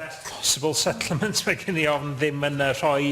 Possible settlement, mae gen i ofn, ddim yn yy, rhoi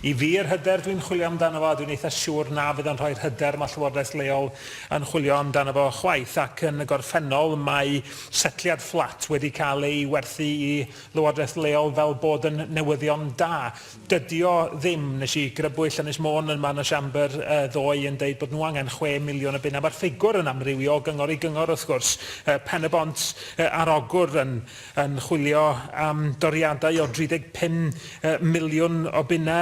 i fi yr hyder dwi'n chwilio amdano fo a dwi'n eitha siŵr na fydd o'n rhoi'r hyder mae Llywodraeth leol yn chwilio amdano fo chwaith ac yn y gorffennol mae setliad fflat wedi cael ei werthu i Lywodraeth leol fel bod yn newyddion da. Dydy o ddim. Nes i grybwyll Ynys Môn yma yn y Siambr ddoe yn deud bod nhw angen chwe miliwn o bunna. Mae'r ffigwr yn amrywio o gyngor i gyngor wrth gwrs. Pen-y-bont ar Ogwr yn yn chwilio am doriadau o 35 miliwn o bunna.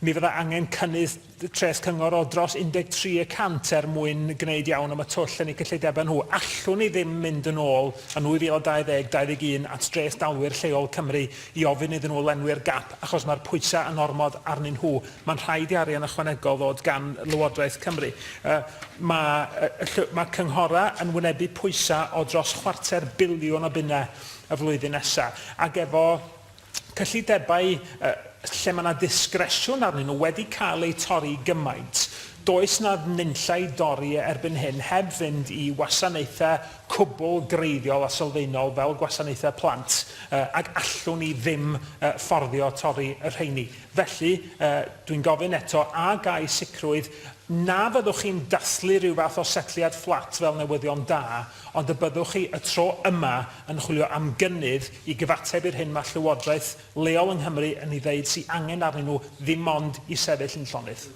Mi fydda angen cynnydd treth cyngor o dros 13 y cant er mwyn gwneud iawn am y twll yn eu cyllidebau nhw. Allwn ni ddim mynd yn ôl yn 2020, 21 at dreth dalwyr lleol Cymru i ofyn iddyn nhw lenwi'r gap achos mae'r pwysau yn ormod arnyn nhw. Mae'n rhaid i arian ychwanegol ddod gan Lywodraeth Cymru. Mae mae cynghorau yn wynebu pwysau o dros chwarter biliwn o bunnau y flwyddyn nesaf ac efo cyllidebau lle mae 'na ddisgresiwn arnyn nhw wedi cael eu torri gymaint, does 'na nunllai dorri erbyn hyn heb fynd i wasanaethau cwbl greiddiol a sylfaenol fel gwasanaethau plant ac allwn ni ddim fforddio torri y rheini. Felly, dwi'n gofyn eto, a ga i sicrwydd na fyddwch chi'n dathlu rhyw fath o setliad fflat fel newyddion da? Ond y byddwch chi, y tro yma, yn chwilio am gynnydd i gyfateb i'r hyn mae llywodraeth leol yng Nghymru yn ei ddeud sy angen arnyn nhw ddim ond i sefyll yn llonydd.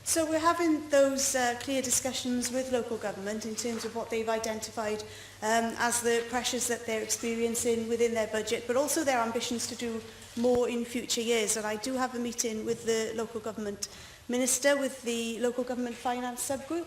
So we're having those uh, clear discussions with local government in terms of what they've identified um, as the pressures that they're experiencing within their budget, but also their ambitions to do more in future years. And I do have a meeting with the local government minister, with the local government finance subgroup,